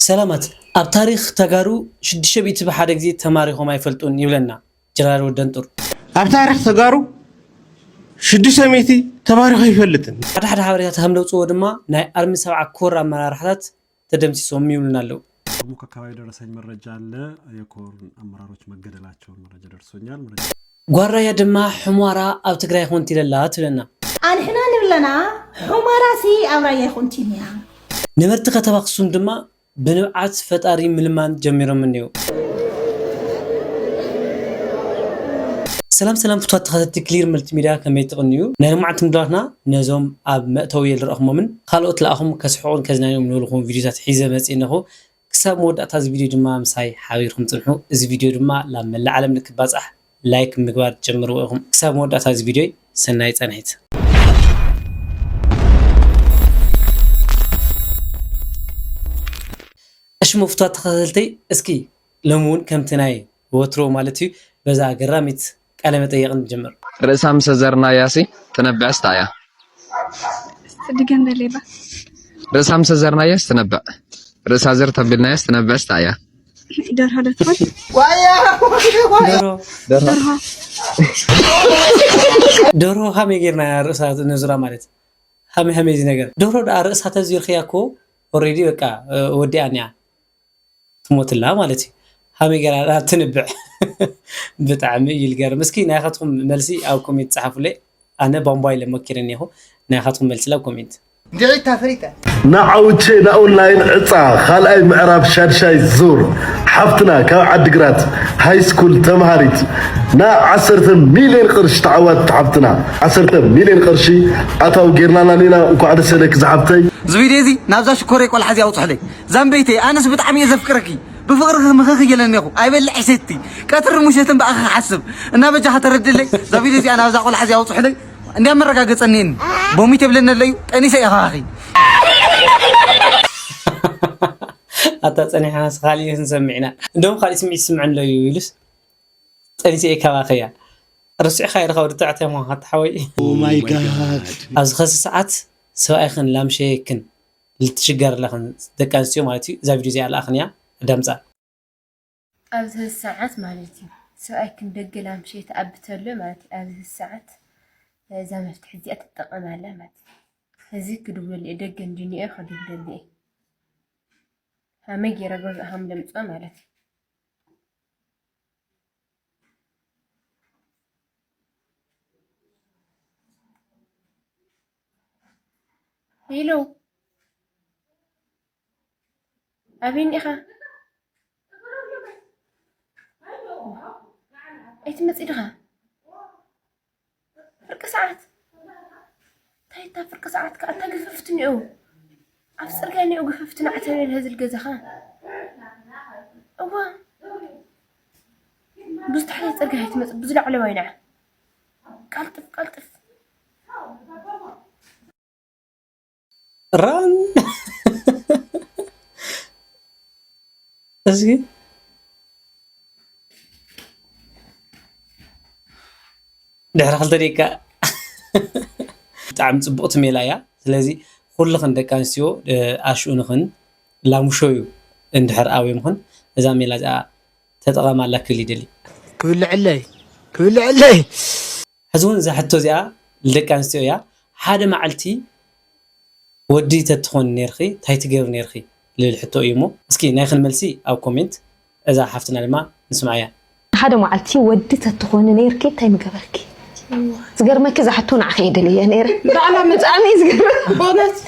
ሰላማት ኣብ ታሪኽ ተጋሩ ሽዱሽተ ሚእቲ ብሓደ ግዜ ተማሪኾም ኣይፈልጡን ይብለና ጀነራል ወደንጡር። ኣብ ታሪኽ ተጋሩ ሽዱሽተ ሚእቲ ተማሪኹ ኣይፈልጥን። ሓደ ሓደ ሓበሬታት ከም ዘውፅእዎ ድማ ናይ ኣርሚ ሰብዓ ኮር ኣመራርሓታት ተደምሲሶም ይብሉና ኣለው። ከሙካ ኣካባቢ የደረሰኝ መረጃ ኣለ የኮር ኣመራሮች መገደላቸውን መረጃ ደርሶኛል። ጓል ራያ ድማ ሑሟራ ኣብ ትግራይ ኾንቲለ ኣላ ትብለና። ኣንሕና ንብለና ሑመራ ሲ ኣብ ራያ ኾንቲል እያ። ነበርቲ ከተማ ኣኽሱም ድማ ብንብዓት ፈጣሪ ምልማን ጀሚሮም እኔዉ። ሰላም ሰላም ፍትዋት ተኸተልቲ ክሊር መልቲ ሚድያ ከመይ ትቕንዩ ናይ ሎማዓንቲ ምድባትና ነዞም ኣብ መእተዊ የልረእኹሞምን ኻልኦት ለኣኹም ከስሕቑን ከዝናንዩም ንብልኹም ቪድዮታት ሒዘ መፅእ እነኹ ክሳብ መወዳእታ እዚ ቪድዮ ድማ ምሳይ ሓቢርኩም ጽንሑ። እዚ ቪድዮ ድማ ላብ መላእ ዓለም ንክባጻሕ ላይክ ብምግባር ጀምርዎ ኢኹም። ክሳብ መወዳእታ እዚ ቪድዮይ ሰናይ ጻንሒት። ኣሽሙ ፍትዋት ተኸታተልተይ እስኪ ሎሚ ውን ከምቲ ናይ ወትሩ ማለት እዩ በዛ ኣገራሚት ቃለ መጠየቅ ንጅምር። ርእሳ ምስ ኣዘርናያሲ ትነብዕስ ታይ እያ? እስቲ ድገም ደሌባ። ርእሳ ምስ ኣዘርናያስ ትነብዕ። ርእሳ ዘር ተቢልናያስ ትነብዕስ ታይ እያ? ደርሆ ዶ ትኾን? ደርሆ ደርሆ ደርሆ ሃመይ ጌርና እያ ርእሳ ነዙራ ማለት ሃመይ ሃመይ እዚ ነገር ደርሆ ደኣ ርእሳ ተዚርክያ እኮ ኦሬዲ በቃ ወዲኣን እያ ትሞትላ ማለት እዩ ሃመይ ገራ ድኣ ትንብዕ ብጣዕሚ እዩ ልገርም እስኪ ናይካትኩም መልሲ ኣብ ኮሜንት ጸሓፉለይ ኣነ ቧንቧ ኢለ ሞኪረ እኔኹ ናይካትኩም መልሲ ላብ ኮሜንት እንድዒ ተፍሪጠ። ንዓውቼ ንኦንላይን ዕፃ ካልኣይ ምዕራፍ ሻድሻይ ዙር ሓፍትና ካብ ዓዲግራት ሃይስኩል ተምሃሪት ን ዓሰርተ ሚልየን ቕርሺ ተዓዋቲት ሓፍትና ዓሰርተ ሚልየን ቕርሺ ኣታዊ ገይርናላ እኒና እንኳዕ ደሰ ኢለኪ ዝሓፍተይ። እዚ ቪድዮ እዚ ናብዛ ሽኮረይ ቆልዓ እዚኣ ኣውፅሑለይ። ዛምበይተይ ኣነስ ብጣዕሚ እየ ዘፍቅረኪ ብፍቅርኺ ምኽኽ እየ ለኔኹ ኣይበልዕ ሴቲ ቀትርን ሙሸትን ብኣኺ ክሓስብ እና በጃኻ ተረድለይ እዛ ቪድዮ እዚኣ ናብዛ ቆልዓ እዚኣ ኣውፅሑለይ እንዲያ መረጋገፀ እኒኤኒ ቦሚት የብለኒ ኣለዩ ጠኒሰ እየ ካባኺ ኣታ ፀኒሕናስ ካሊእ ክንሰምዕ ኢና እንደውም ካሊእ ስምዒት ይስምዐኒ ኣሎ እዩ ኢሉስ ጠኒሰ እየ ካባኺ እያ ረሲዕኻዮ ድኻ ወዲ ተባዕታይ ምዃንካ ኣታ ሓወይ ኦማይ ጋድ ኣብዚ ከዚ ሰዓት ሰብኣይክን ላምሸየክን ልትሽገር ኣለኽን ደቂ ኣንስትዮ ማለት እዩ እዛ ቪድዮ እዚኣ ልኣኽንያ ኣዳምጻ። ኣብዚ ህዚ ሰዓት ማለት እዩ ሰብኣይ ክን ደገ ላምሸ ተኣቢ ተሎ ማለት እዩ ኣብዚ ህዚ ሰዓት እዛ መፍትሒ እዚኣ ትጠቐም ኣላ ማለት እዩ ህዚ ክድውለሉ እየ ደገ እንድንኦ ክድውለሉ እየ ሃመይ ገይረ ገዝኦም ለምፅኦ ማለት እዩ ሄሎ ኣበይ እኒኻ? ኣይትመፅእ ድኻ? ፍርቂ ሰዓት እንታይ እታ ፍርቂ ሰዓት ከዓ እንታይ ግፍፍት እኒኦ ኣብ ፅርግያ እኒኦ ግፍፍት ናዕተብ የለ ህዝል ገዛኻ እዋ ብዝተሓለየ ፅርግያ ኣይትመፅእ ብዝላዕለዋይ ንዓ ቀልጥፍ ቀልጥፍ ራን እዚህ ድሕሪ ክልተ ደቂቃ ብጣዕሚ ፅቡቕቲ ሜላ እያ ስለዚ ኩልኽን ደቂ ኣንስትዮ ኣሽኡ ንኽን ላሙሸዩ እንድሕር ኣውዮምኽን እዛ ሜላ እዚኣ ተጠቐማላ ክብል ይደሊ ክብልዐለይ ክብልዐለይ ሕዚ ውን እዛ ሕቶ እዚኣ ልደቂ ኣንስትዮ እያ ሓደ ማዕልቲ ወዲ ተትኾኒ ነርኺ ታይ ትገብሪ ነርኺ ልል ሕቶ እዩ እሞ እስኪ ናይኽን መልሲ ኣብ ኮሜንት እዛ ሓፍትና ድማ ንስምዓያ። ሓደ ማዕልቲ ወዲ ተትኾኒ ነርኪ ታይ ምገበርኪ ዝገርመኪ እዛ ሕቶ ንዓኺ እየ ደልየያ ነይረ ባዕላ ምጻኣኒ እዩ ዝገርም በእውነት።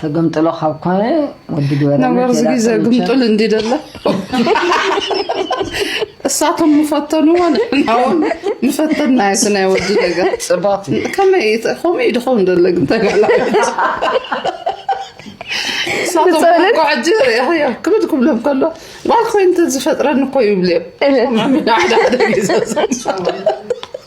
ተገምጥሎ ካብ ኮነ ወዲ ገበረ ነገር ዝጊዘ ግምጥል እንዲ ደለ እሳቶም ምፈተንዎ ንሕናውን ምፈተና የቲ ናይ ወዲ ነገር ፅባት ከመይ ከምኡ እዩ ድኸውን ደለ ግን ተጋላ እሳቶም ጓዕጂ ሪእኸዮ ክብድ ክብሎም ከሎ ጓል ኮይኑ ተዝፈጥረኒ እኮ ይብልዮም ሓደ ሓደ ግዘ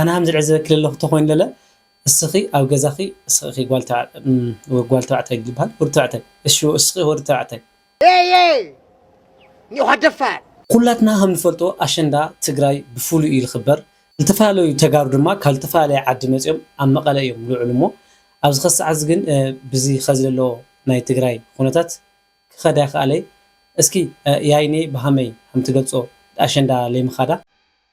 ኣነ ሃም ዝዕዘበኪ ለለኩ ተኮይኑ ለለ እስኪ ኣብ ገዛኪ እስኪ እኪ ጓል ተባዕ ጓል ተባዕታይ ልባሃል ወዲ ተባዕታይ እሺ እስኪ ወዲ ተባዕታይ ኤየይ ኒዃ ደፋር። ኩላትና ከም ንፈልጦ ኣሸንዳ ትግራይ ብፍሉይ እዩ ልኽበር ልተፈላለዩ ተጋሩ ድማ ካብ ልተፈላለየ ዓዲ መፂኦም ኣብ መቐለ እዮም ልውዕሉ እሞ ኣብዚ ኸዚ ሰዓት እዚ ግን ብዚ ኸዚ ለሎ ናይ ትግራይ ኹነታት ክኸድ ኣይኸኣለይ እስኪ ያይኔ ብሃመይ ሃምትገልፆ ኣሸንዳ ለይምኻዳ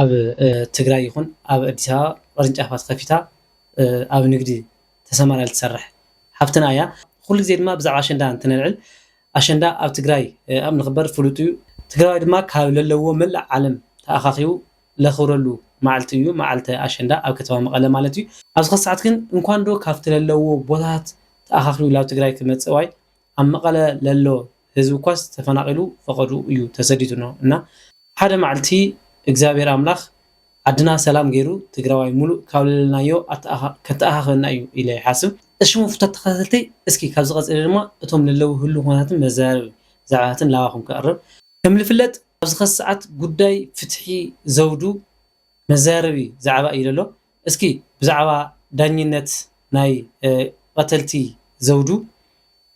ኣብ ትግራይ ይኹን ኣብ ኣዲስ ኣበባ ቅርንጫፋት ከፊታ ኣብ ንግዲ ተሰማርያ ልትሰርሕ ሓፍትና እያ። ኩሉ ግዜ ድማ ብዛዕባ ኣሸንዳ እንትነልዕል ኣሸንዳ ኣብ ትግራይ ኣብ ንኽበር ፍሉጥ እዩ። ትግራዋይ ድማ ካብ ለለውዎ መላእ ዓለም ተኣኻኺቡ ለኽብረሉ ማዕልቲ እዩ፣ መዓልተ ኣሸንዳ ኣብ ከተማ መቐለ ማለት እዩ። ኣብዚ ከሳዕት ግን እንኳንዶ ካብቲ ለለውዎ ቦታታት ተኣኻኺቡ ላብ ትግራይ ክመፅእ ዋይ ኣብ መቀለ ለሎ ህዝቢ እኳስ ተፈናቂሉ ፈቀድኡ እዩ ተሰዲዱ እኖ እና ሓደ ማዕልቲ እግዚኣብሔር ኣምላክ ዓድና ሰላም ገይሩ ትግራዋይ ሙሉእ ካብ ለለናዮ ከተኣካክበና እዩ ኢለ ይሓስብ። እሽሙ ፍቶት ተከታተልቲ እስኪ ካብዚ ቀፂለ ድማ እቶም ለለው ህሉው ኩነታትን መዘራረቢ ዛዕባታትን ላባኩም ከቅርብ። ከም ልፍለጥ ኣብዚ ከዚ ሰዓት ጉዳይ ፍትሒ ዘውዱ መዘራረቢ ዛዕባ እዩ ለሎ። እስኪ ብዛዕባ ዳኝነት ናይ ቐተልቲ ዘውዱ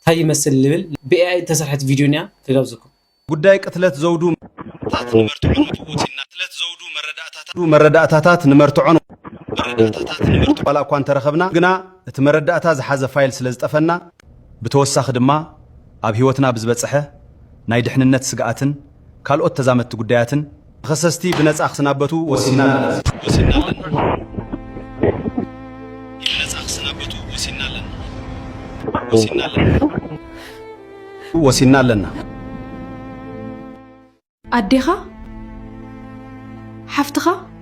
ታይ ይመስል ልብል ብኤኣይ እተሰርሐት ቪድዮ እኒኣ ክጋብዘኩም። ጉዳይ ቅትለት ዘውዱ መረዳእታታት ንመርትዖን መፈወሲን ናብ ቅትለት ዘውዱ መረዳእታታት መረዳእታታት ንመርትዖን መረዳእታታት ንመርትዖን ዋላ እኳ እንተረኸብና ግና እቲ መረዳእታ ዝሓዘ ፋይል ስለ ዝጠፈና፣ ብተወሳኺ ድማ ኣብ ህይወትና ብዝበፀሐ ናይ ድሕንነት ስግኣትን ካልኦት ተዛመድቲ ጉዳያትን ተኸሰስቲ ብነፃ ክስናበቱ ወሲንና ኣለና። ወሲንና ኣለና። ኣዴኻ? ሓፍትኻ?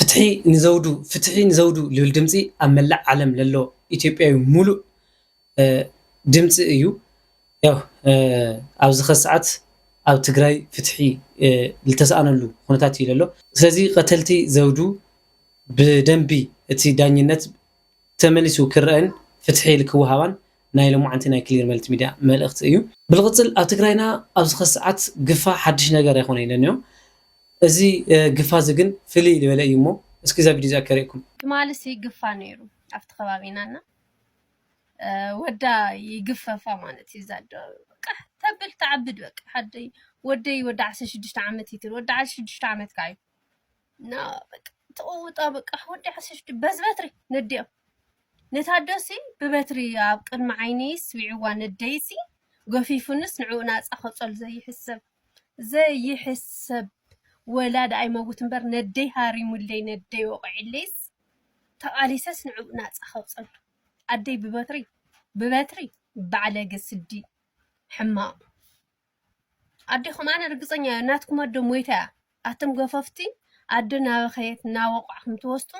ፍትሒ ንዘውዱ ፍትሒ ንዘውዱ ልብል ድምጺ ኣብ መላእ ዓለም ለሎ ኢትዮጵያዊ ሙሉእ ድምጺ እዩ ያው ኣብዚ ከዚ ሰዓት ኣብ ትግራይ ፍትሒ ልተሰኣነሉ ኩነታት እዩ ለሎ ስለዚ ቀተልቲ ዘውዱ ብደንቢ እቲ ዳኝነት ተመሊሱ ክረኣን ፍትሒ ልክወሃባን ናይ ሎማዓንቲ ናይ ክሊር መልቲ ሚድያ መልእኽቲ እዩ። ብልቕፅል ኣብ ትግራይና ኣብዚ ኸዚ ሰዓት ግፋ ሓዱሽ ነገር ኣይኾነይ ለንዮ እዚ ግፋ እዚ ግን ፍልይ ልበለ እዩ እሞ እስኪ እዛ ቪድዮ እዚኣ ከሪእኩም። ትማሊሲ ግፋ ነይሩ ኣብቲ ከባቢና እና ወዳ ይግፈፋ ማለት እዩ እዛ ኣዶ ቃሕ ተብል ተዓብድ በቃ ሓደይ ወደይ ወዲ ዓሰርተ ሽዱሽተ ዓመት ይትል ወዲ ዓሰርተ ሽዱሽተ ዓመት ካዓ እዩ እና በቃ ተቐውጣ በቃ ወዲ ዓሰርተ ሽዱሽተ በዝ በትሪ ነዲኦ ንታደሲ ብበትሪ ኣብ ቅድሚ ዓይነይ ስቢዕዋ ነደይሲ ገፊፉንስ ንዕኡ ናፃ ከፀሉ ዘይሕሰብ ዘይሕሰብ ወላ ደኣ ይመውት እምበር ነደይ ሃሪሙለይ ነደይ ወቂዕለይስ ተቓሊሰስ ንዕኡ ናፃ ከውፀሉ ኣደይ ብበትሪ ብበትሪ ባዕለገ ስዲ ሕማቕ ኣዴኹም ኣነ ርግጸኛ እየ ናትኩም ኣደ ሞይታ እያ ኣቶም ገፈፍቲ ኣደ ናበኸየት እናወቋዕኹም ትወስጡ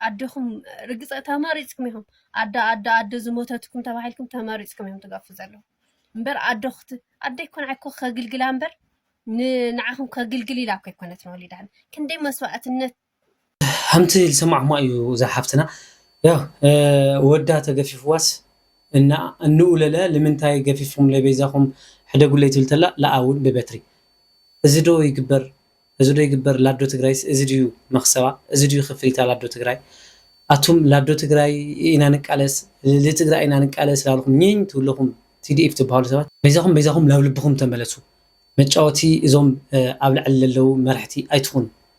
ኣዴኹም ርግጸ ተመሪጽኩም ኢኹም ኣደ ኣደ ኣደ ዝሞተትኩም ተባሂልኩም ተመሪጽኩም እዮም ትገፉ ዘለኹም እምበር ኣደ ክት ኣደ ይኮን ዓይኮ ከግልግላ እምበር ንዓኹም ከግልግል ኢላ እኮ ይኮነት ንወሊዳን ክንደይ መስዋእትነት ከምቲ ዝሰማዕኩማ እዩ እዛ ሓፍትና ያው ወዳ ተገፊፍዋስ እንኣ እንኡ ለለ ልምንታይ ገፊፍኩምለይ በይዛኹም ሕደጉለይ ትብል ተላ ለኣ ውን ብበትሪ እዚ ዶ ይግበር እዚ ዶ ይግበር ላዶ ትግራይስ እዚ ድዩ መኽሰባ እዚ ድዩ ክፍሊታ ላዶ ትግራይ ኣቱም ላዶ ትግራይ ኢና ንቃለስ ልትግራይ ኢና ንቃለስ ላልኹም ኝኝ ትብሉ ለኹም ቲዲኤፍ ትብሃሉ ሰባት በይዛኹም በይዛኹም ላብ ልብኹም ተመለሱ መጫወቲ እዞም ኣብ ላዕሊ ለለዉ መራሕቲ ኣይትኹኑ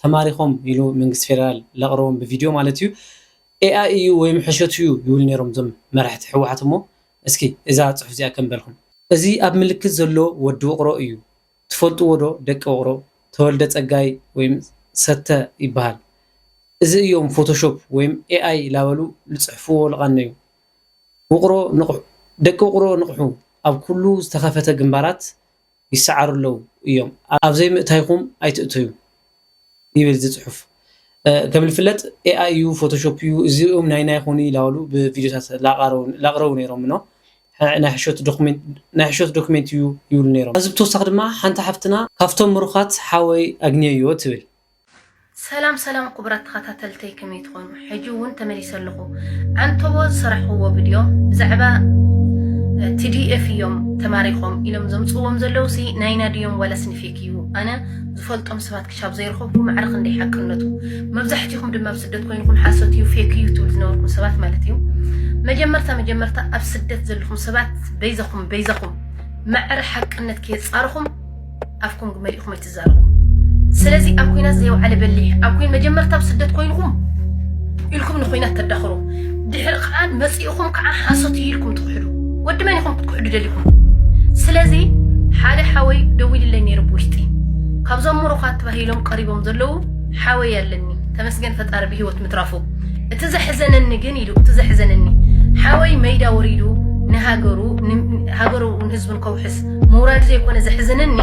ተማሪኾም ኢሉ መንግስቲ ፌደራል ለቕረቦም ብቪድዮ ማለት እዩ ኤኣይ እዩ ወይም ሕሸት እዩ ይብሉ ነይሮም እዞም መራሕቲ ህወሓት እሞ እስኪ እዛ ፅሑፍ እዚኣ ከም በልኹም እዚ ኣብ ምልክት ዘሎ ወዲ ውቕሮ እዩ ትፈልጥዎ ዶ ደቂ ውቕሮ ተወልደ ፀጋይ ወይም ሰተ ይበሃል እዚ እዮም ፎቶሾፕ ወይም ኤኣይ ላበሉ ልፅሕፍዎ ልቓነዩ ውቕሮ ንቕሑ ደቂ ውቕሮ ንቕሑ ኣብ ኩሉ ዝተኸፈተ ግንባራት ይሰዓሩ ኣለው እዮም ኣብዘይ ምእታይኹም ኣይትእተዩ ይብል እዚ ፅሑፍ ከም ዝፍለጥ ኤኣይ እዩ ፎቶሾፕ እዩ እዚኦም ናይ ናይ ኾኑ ይላሉ ብቪድዮታት ላቅረቡ ነይሮም ኖ ናይ ሕሾት ዶክሜንት እዩ ይብሉ ነይሮም። ካብዚ ብተወሳኺ ድማ ሓንቲ ሓፍትና ካብቶም ምሩኻት ሓወይ ኣግንየዮ ትብል። ሰላም ሰላም ኩቡራት ተኻታተልተይ ከመይ ትኾኑ ሕጂ እውን ተመሊሰ ኣለኹ ዓንተቦ ዝሰራሕኹዎ ቪድዮ ብዛዕባ ቲዲኤፍ እዮም ተማሪኾም ኢሎም ዘምጽዎም ዘለዉ ሲ ናይና ድዮም ዋላ ስንፌክ እዩ ኣነ ዝፈልጦም ሰባት ክሻብ ዘይረኸብኩ ማዕረ ክንደይ ሓቅነቱ መብዛሕትኹም ድማ ኣብ ስደት ኮይንኩም ሓሶት እዩ ፌክ እዩ ትብል ዝነበርኩም ሰባት ማለት እዩ መጀመርታ መጀመርታ ኣብ ስደት ዘለኹም ሰባት በይዘኹም በይዘኹም ማዕረ ሓቅነት ከየጻርኹም ኣፍኩም ግመሊእኹም ዝዛረቡ ስለዚ ኣብ ኩናት ዘየውዓለ በሊሕ ኣብ ኩን መጀመርታ ኣብ ስደት ኮይንኩም ኢልኩም ንኩናት ተዳኽሩ ድሕሪ ከዓ መፂእኹም ከዓ ሓሶት እዩ ኢልኩም ትክሕዱ ወዲ መን ኢኹም ክትክሕዱ ደሊኹም ስለዚ ሓደ ሓወይ ደዊልለይ ነይሩ ብውሽጢ ካብዞም ምሩኻት ተባሂሎም ቀሪቦም ዘለዉ ሓወይ ኣለኒ ተመስገን ፈጣሪ ብሂወት ምትራፉ እቲ ዘሕዘነኒ ግን ኢሉ እቲ ዘሕዘነኒ ሓወይ መይዳ ወሪዱ ንሃገሩ ሃገሩ ህዝቡን ከውሕስ ምውራዱ ዘይኮነ ዘሕዝነኒ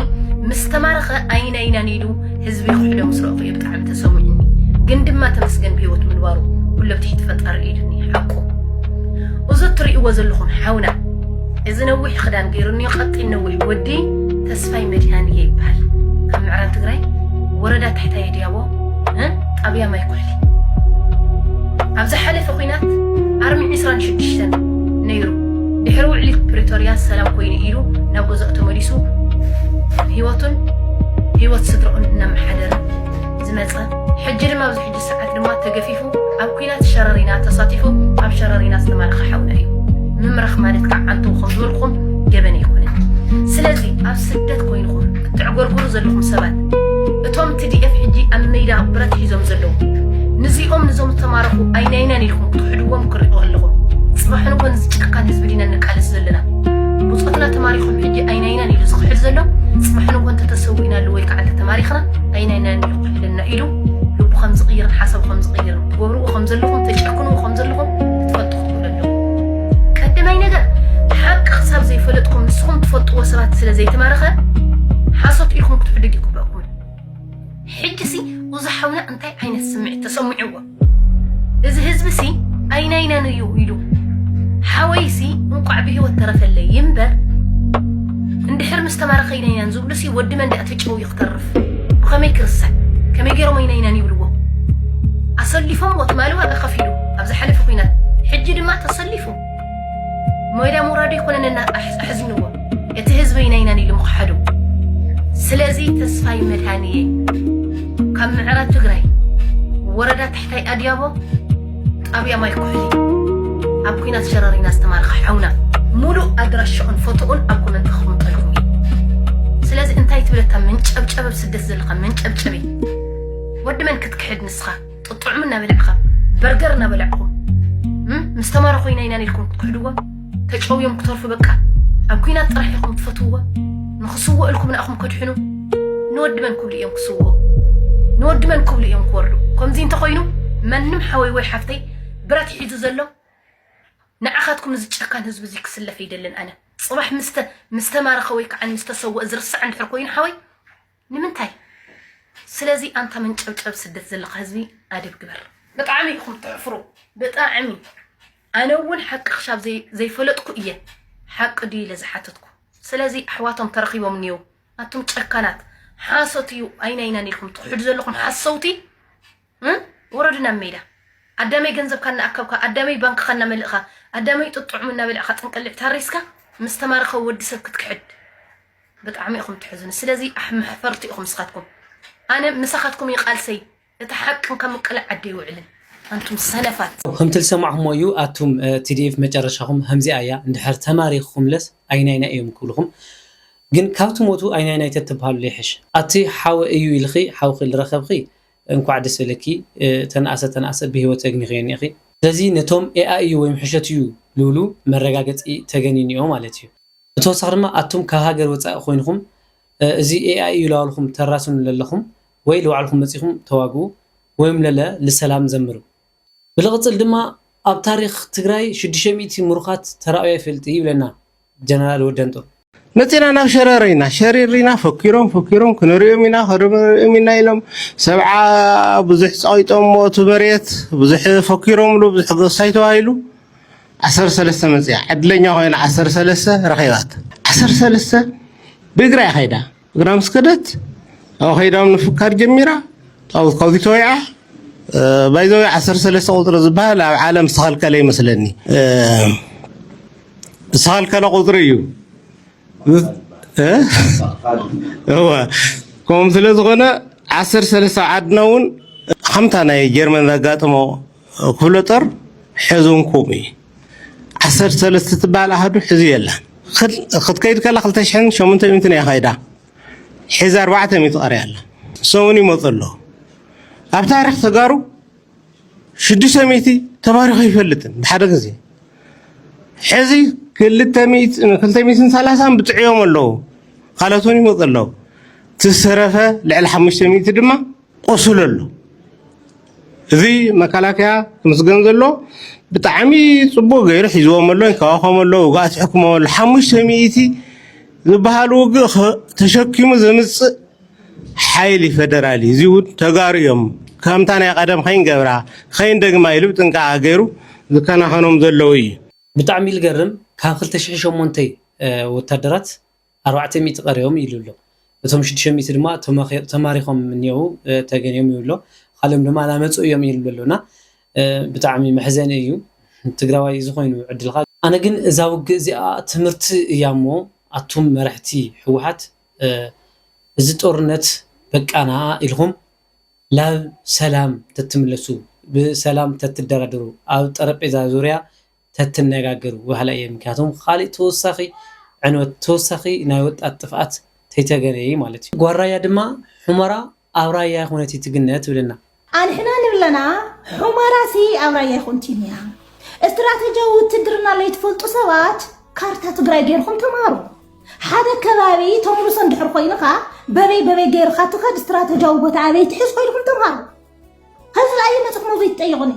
ምስ ተማረኸ ኣይና ኢናን ኢሉ ህዝቢ ክሕዶ ምስ ረእኹ እዩ ብጣዕሚ ተሰሚዑኒ ግን ድማ ተመስገን ብሂወት ምንባሩ ኩሉ ኣብ ትሕቲ ፈጣሪ ኢዱኒ ሓቁ እዚ እትርእይዎ ዘለኹም ሓውና እዚ ነዊሕ ክዳን ገይሩኒ ቀጢን ነዊሕ ወዲ ተስፋይ መድሃን እየ ይበሃል ካብ ምዕራብ ትግራይ ወረዳ ታሕታይ ድያቦ ጣብያ ማይ ኩሕሊ ኣብ ዝሓለፈ ኩናት ኣርሚ 26 ነይሩ ድሕሪ ውዕሊ ፕሪቶርያ ሰላም ኮይኑ ኢሉ ናብ ገዝኦ ተመሊሱ ህይወቱን ህይወት ስድራኡን እናመሓደረ ዝመፀ ሕጂ ድማ ኣብዚ ሕጂ ሰዓት ድማ ተገፊፉ ኣብ ኩናት ሸረሪና ተሳቲፉ ኣብ ሸረሪና ዝተማረኸ ሓውና እዩ ምምራኽ ማለት ከዓ ዓንተው ከም ዝበልኩም ገበን ኣይኮነን ስለዚ ኣብ ስደት ኮይንኹም ተዕጎርጉሩ ዘለኹም ሰባት እቶም ትዲኤፍ ሕጂ ኣብ መይዳ ብረት ሒዞም ዘለዉ ንዚኦም ንዞም ዝተማረኹ ኣይናይናን ኢልኩም ክትሕድዎም ክሪኦ ኣለኹም ጽባሕ ንኮ ንዚ ጨካን ህዝቢ ዲና ንቃለስ ዘለና ብፆትና ተማሪኹም ሕጂ ኣይናይናን ኢሉ ዝኽሕድ ዘሎ ጽባሕ ንኮ እንተተሰዊእና ኣሉ ወይ ከዓ እንተተማሪኽና ኣይናይናን ኢሉ ክሕደና ኢሉ ልቡ ከም ዝቕይርን ሓሳቡ ከም ዝቕይርን ትገብርዎ ከም ዘለኹም ተጨክንዎ ከም ዘለኹም ይብለሎም ቀደማይ ነገር ሓቂ ክሳብ ዘይፈለጥኩም ንስኹም ትፈልጥዎ ሰባት ስለ ዘይተማረኸ ሓሶት ኢልኩም ክትሕድግ ይግበኩም ሕጂ ሲ እዚ ሓውና እንታይ ዓይነት ስምዒት ተሰምዕዎ እዚ ህዝቢ ሲ ኣይናይናን እዩ ኢሉ ሓወይ ሲ እንቋዕ ብሂወት ተረፈለይ ይምበር እንድሕር ምስ ተማረኸ ኢናይናን ዝብሉ ሲ ወዲ መንዳእ ተጨው ትተርፍ ብኸመይ ክርሳዕ ከመይ ገይሮም ኣይናይናን ይብልዎ ኣሰሊፎምዎ ትማሊ ዋጋ ከፊሉ ኣብ ዝሓለፈ ኩናት ሕጂ ድማ ተሰሊፉ ሞይዳ ምውራዱ ይኮነነና ኣሕዝንዎ እቲ ህዝበይ ናይናን ኢሉ ምኽሓዱ ስለዚ ተስፋይ መድሃንየ ካብ ምዕራብ ትግራይ ወረዳ ታሕታይ ኣድያቦ ጣብያ ማይ ኩሕሊ ኣብ ኩናት ሸረሪና ዝተማረኸ ሓውና ሙሉእ ኣድራሽኡን ፎቶኡን ኣብ ኮመንት ክቕምጠልኩም እዩ ስለዚ እንታይ ትብለታ መንጨብጨብ ኣብ ስደት ዘለኻ መንጨብጨቢ ወዲ መን ክትክሕድ ንስኻ ጥጥዑም እናበልዕኻ በርገር እናበልዕኹም ምስ ተማረ ኮይና ኢና ኢልኩም ክትክሕድዎም ተጨውዮም ክተርፉ በቃ ኣብ ኩናት ጥራሕ ኢኹም ትፈትውዎ ንኽስውእልኩም ንኣኹም ከድሕኑ ንወዲ መን ክብሉ እዮም ክስውኡ ንወዲ መን ክብሉ እዮም ክወርዱ ከምዚ እንተኾይኑ መንም ሓወይ ወይ ሓፍተይ ብረት ሒዙ ዘሎ ንዓኻትኩም እዚ ጨካን ህዝቢ እዚ ክስለፍ ይደልን ኣነ ፅባሕ ምስ ተማረኸ ወይ ከዓ ምስ ተሰወእ ዝርሳዕ እንድሕር ኮይኑ ሓወይ ንምንታይ ስለዚ ኣንታ መንጨብጨብ ስደት ዘለካ ህዝቢ ኣደብ ግበር ብጣዕሚ ኢኩም ተሕፍሩ ብጣዕሚ ኣነ እውን ሓቂ ክሻብ ዘይፈለጥኩ እየ ሓቂ ድዩ ኢለ ዝሓተትኩ ስለዚ ኣሕዋቶም ተረኪቦም እኒው ኣቱም ጨካናት ሓሶት እዩ ኣይናይናን ኢልኩም ትክሕዱ ዘለኩም ሓሰውቲ ወረዱ ናብ ሜዳ ኣዳመይ ገንዘብካ እናኣከብካ ኣዳመይ ባንክኻ እናመልእኻ ኣዳመይ ጡጥ ጥዑም እናበልዕኻ ጥንቅልዕ ታሪስካ ምስ ተማረኸ ወዲ ሰብ ክትክሕድ ብጣዕሚ ኢኹም ትሕዝኑ ስለዚ ኣሕመሕፈርቲ ኢኹም ንስኻትኩም ኣነ ምሳኻትኩም ይቃልሰይ እቲ ሓቅን ካብ ምቅላዕ ዓዲ ይውዕልን ኣንቱም ሰነፋት ከምቲ ዝሰማዕኹሞ እዩ ኣቱም ቲዲኤፍ መጨረሻኹም ከምዚኣ እያ እንድሕር ተማሪኽኹምለስ ኣይናይና እዮም ክብልኹም ግን ካብ ትሞቱ ኣይናይናይ ተትብሃሉ ዘይሕሽ ኣቲ ሓወ እዩ ኢልኺ ሓውኺ ዝረኸብኺ እንኳዕ ደስ በለኪ ተነኣሰ ተነኣሰ ብሂወት ተግኒኽዮ እኒኢኺ። ስለዚ ነቶም ኤኣይ እዩ ወይም ሕሾት እዩ ልብሉ መረጋገጺ ተገን እኒኦ ማለት እዩ። ብተወሳኺ ድማ ኣቱም ካብ ሃገር ወጻኢ ኮይንኹም እዚ ኤኣይ እዩ ላበልኹም ተራስኑ ለለኹም ወይ ልባዕልኹም መጺኹም ተዋግኡ ወይም ለለ ልሰላም ዘምሩ ብልቕፅል ድማ ኣብ ታሪኽ ትግራይ ሽዱሽተ ሚእቲ ምሩኻት ተራእዩ ኣይፈልጥይ ይብለና ጀነራል ወደንጦር። መፂና ናብ ሸረሪና ሸሪሪና ፈኪሮም ፈኪሮም ክንሪኦም ኢና ክንሪኦም ኢና ኢሎም ሰብዓ ብዙሕ ፀቒጦሞ እቲ መሬት ብዙሕ ፈኪሮምሉ ብዙሕ ገሳይ ተባሂሉ ዓሰርተ ሰለስተ መፂኣ ዕድለኛ ኮይና ዓሰርተ ሰለስተ ረኺባታ ዓሰርተ ሰለስተ ብእግራ እያ ከይዳ ግና ምስ ከደት ኣብኡ ከይዳ ምፍካር ጀሚራ ጣውዝ ካብዚ ተወይዓ ባይዘወይ ዓሰርተ ሰለስተ ቁፅሪ ዝበሃል ኣብ ዓለም ዝተኸልከለ ይመስለኒ ዝተኸልከለ ቁፅሪ እዩ እወ ከምኡ ስለ ዝኾነ ዓሰርተ ሰለስተ ኣብ ዓድና እውን ከምታ ናይ ጀርመን ዘጋጥሞ ክፍለ ጦር ሕዚ እውን ከምኡ እዩ ዓሰርተ ሰለስተ ትበሃል ኣሃዱ ሕዚ የላን ክትከይድ ከላ ክልተ ሽሕን ሸሞንተ ሚእትን እያ ከይዳ ሕዚ ኣርባዕተ ሚእቲ ቀርያ ኣላ ሰሙን ይመፁ ኣሎ ኣብ ታሪክ ተጋሩ ሽዱሽተ ሚእቲ ተባሪኹ ይፈልጥን ብሓደ ግዜ ሕዚ ክልተ ሚእትን ሰላሳን ብጥዕዮም ኣለዉ ካልኦት እውን ይመፁ ኣለዉ ትዝተረፈ ልዕሊ ሓሙሽተ ሚእቲ ድማ ቆሱሉ ኣሎ እዚ መካላከያ ክምስገን ዘሎ ብጣዕሚ ፅቡቅ ገይሩ ሒዝዎም ኣሎ ይንከባኸቦም ኣሎ ውግኣት ይሕክሞም ኣሎ ሓሙሽተ ሚእቲ ዝበሃል ውግእ ተሸኪሙ ዘምፅእ ሓይሊ ፌደራል እዩ እዚ እውን ተጋሩ እዮም ከምታ ናይ ቀደም ከይንገብራ ከይንደግማ ኢሉ ብጥንቃቐ ገይሩ ዝከናኸኖም ዘለዉ እዩ ብጣዕሚ ልገርም ካብ ክልተ ሽሕን ሸሞንተይ ወታደራት ኣርባዕተ ሚእቲ ቀሪዮም ኢሉ ኣሎ። እቶም ሽዱሽተ ሚእቲ ድማ ተማሪኾም እኒኦው ተገንዮም ይብሉ ኣሎ። ኻሊኦም ድማ ናመፁ እዮም ይብሉ ኣሎ እና ብጣዕሚ መሕዘኒ እዩ ትግራዋይ እዚ ኾይኑ ዕድልኻ። ኣነ ግን እዛ ውግእ እዚኣ ትምህርቲ እያ እሞ ኣቱም መረሕቲ ህወሓት እዚ ጦርነት በቃ ንኣኣ ኢልኹም ላብ ሰላም ተትምለሱ ብሰላም ተትደራደሩ ኣብ ጠረጴዛ ዙርያ ተትነጋገር ዋህላ እየ ምክንያቱም ኻሊእ ተወሳኺ ዕንወት ተወሳኺ ናይ ወጣት ጥፍኣት ተይተገረየ ማለት እዩ ጓል ራያ ድማ ሑመራ ኣብ ራያ ኣይኾነት እይ ትግነ ትብለና። ኣንሕና ንብለና ሑመራ ሲ ኣብ ራያ ኣይኾንቲን እያ እስትራተጃዊ ውትድርና ለይትፈልጡ ሰባት ካርታ ትግራይ ገይርኹም ተማሃሩ ሓደ ከባቢ ተምርሶ እንድሕር ኾይንኻ በበይ በበይ ገይርኻ ትኸድ እስትራተጃዊ ቦታ ኣበይ ትሕዝ ኾይንኹም ተማሃሩ። ህዝቢ ኣይመፅእ ሞዞ ይትጠየቁኒ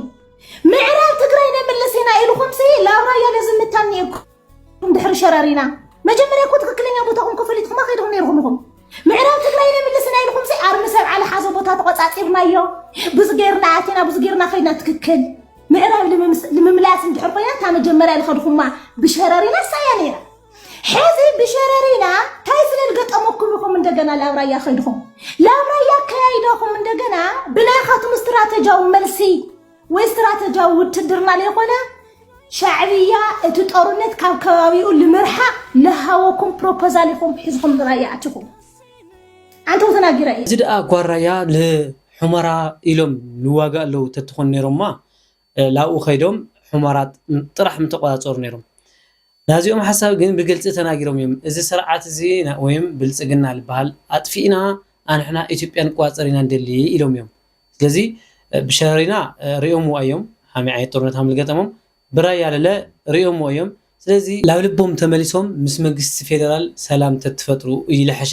ምዕራብ ትግራይ ነምልስ ኢና ኢልኩም ሲ ላብ ራያ ለዝምታን ነርኩም ድሕሪ ሸረሪና መጀመርያ እኮ ትክክለኛ ቦታኹም ከፈሊጥኩም ከይድኹም ነርኩም ኢኹም ምዕራብ ትግራይ ነምልስ ኢና ኢልኩም ሲ ኣርሚ ሰብ ዓለ ሓዘ ቦታ ተቆፃፂርናዮ ብዙ ገይርና ኣቲና ብዙ ገይርና ከይድና ትክክል ምዕራብ ንምምላስ እንድሕር ኮይና እታ መጀመርያ ዝኸድኹማ ብሸረሪና ሳያ ነይራ ሕዚ ብሸረሪና ታይ ፍልል ገጠመኩም ኢኹም እንደገና ላብ ራያ ከይድኹም ላብ ራያ ከያይዳኹም እንደገና ብናይኻትኩም ስትራተጃዊ መልሲ ወይ ስትራተጃዊ ውትድርና ዘይኮነ ሻዕብያ እቲ ጦርነት ካብ ከባቢኡ ንምርሓቅ ልሃወኩም ፕሮፖዛል ኢኹም ሒዝኹም ንራያ ኣቲኹም ኣንተው ተናጊረ እዩ እዚ ደኣ ጓራያ ልሑመራ ኢሎም ልዋጋእ ኣለዉ ተትኾን ነይሮማ ላብኡ ከይዶም ሑመራት ጥራሕ ምተቆጻጸሩ ነይሮም። ናዚኦም ሓሳብ ግን ብግልጺ ተናጊሮም እዮም እዚ ሰርዓት እዚ ወይም ብልጽግና ልበሃል ኣጥፊእና ኣንሕና ኢትዮጵያ ንቆጻጸር ኢና ንደሊ ኢሎም እዮም። ስለዚ ብሸረሪና ሪኦምዋ እዮም ሓምይ ዓይነት ጦርነት ሃም ልገጠሞም ብራያ ለለ ሪኦምዎ እዮም ስለዚ ላብ ልቦም ተመሊሶም ምስ መግስቲ ፌደራል ሰላም ተትፈጥሩ እዩ ልሐሸ።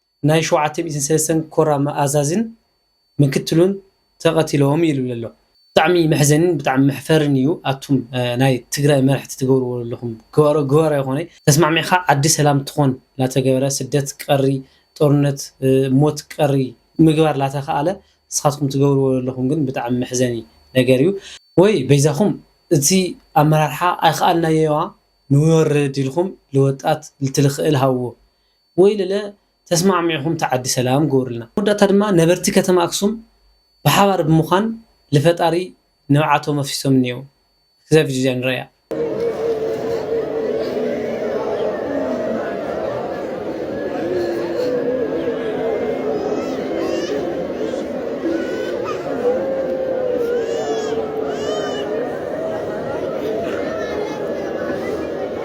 ናይ ሸውዓተ ሚእትን ሰለስተን ኮር ኣዛዚን ምክትሉን ተቀቲሎም እዩ ልብል ኣሎ። ብጣዕሚ መሕዘኒን ብጣዕሚ መሕፈርን እዩ ኣቱም ናይ ትግራይ መራሕቲ ትገብርዎ ለለኹም ግባሮ ግባሮ ኣይኾነይ ተስማዕሚዕኻ ዓዲ ሰላም ትኾን ላተገበረ ስደት ቀሪ ጦርነት ሞት ቀሪ ምግባር ላተኻኣለ ንስኻትኩም ትገብርዎ ለለኹም ግን ብጣዕሚ መሕዘኒ ነገር እዩ ወይ በይዛኹም እቲ ኣመራርሓ ኣይኻኣልናዮዋ ንወርድ ኢልኹም ልወጣት ልትልኽእል ሃብዎ ወይለለ ተስማዕሚዕኹም ትዓዲ ሰላም ግበሩልና። ኣብ መወዳእታ ድማ ነበርቲ ከተማ ኣክሱም ብሓባር ብምዃን ልፈጣሪ ንብዓቶም ኣፍሲሶም እኒኤው። እዛ ቪድዮ እዚኣ ንርኣያ።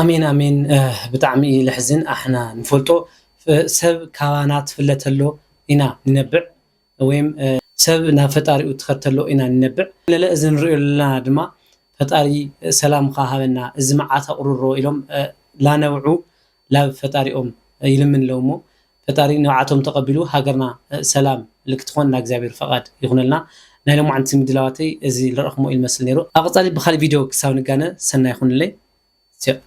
ኣሜን ኣሜን ብጣዕሚ እዩ ለሕዝን ኣሕና ንፈልጦ ሰብ ካባና ትፍለ ተሎ ኢና ንነብዕ ወይም ሰብ ናብ ፈጣሪኡ ትኸድ ተሎ ኢና ንነብዕ ለለ እዚ ንሪኦ ዘለና ድማ ፈጣሪ ሰላምካ ሃበና እዚ መዓት ኣቁርሮ ኢሎም ላነብዑ ላብ ፈጣሪኦም ይልምን ኣለዉ እሞ ፈጣሪ ንብዓቶም ተቀቢሉ ሃገርና ሰላም ልክትኾን ናይ እግዚኣብሔር ፈቃድ ይኹነልና ናይ ሎማዓንቲ ምድላዋተይ እዚ ልረእኹሞ እዩ ልመስል ነይሩ ኣብ ቀፃሊ ብካሊእ ቪድዮ ክሳብ ንጋነ ሰናይ ይኹንለይ ቸእ።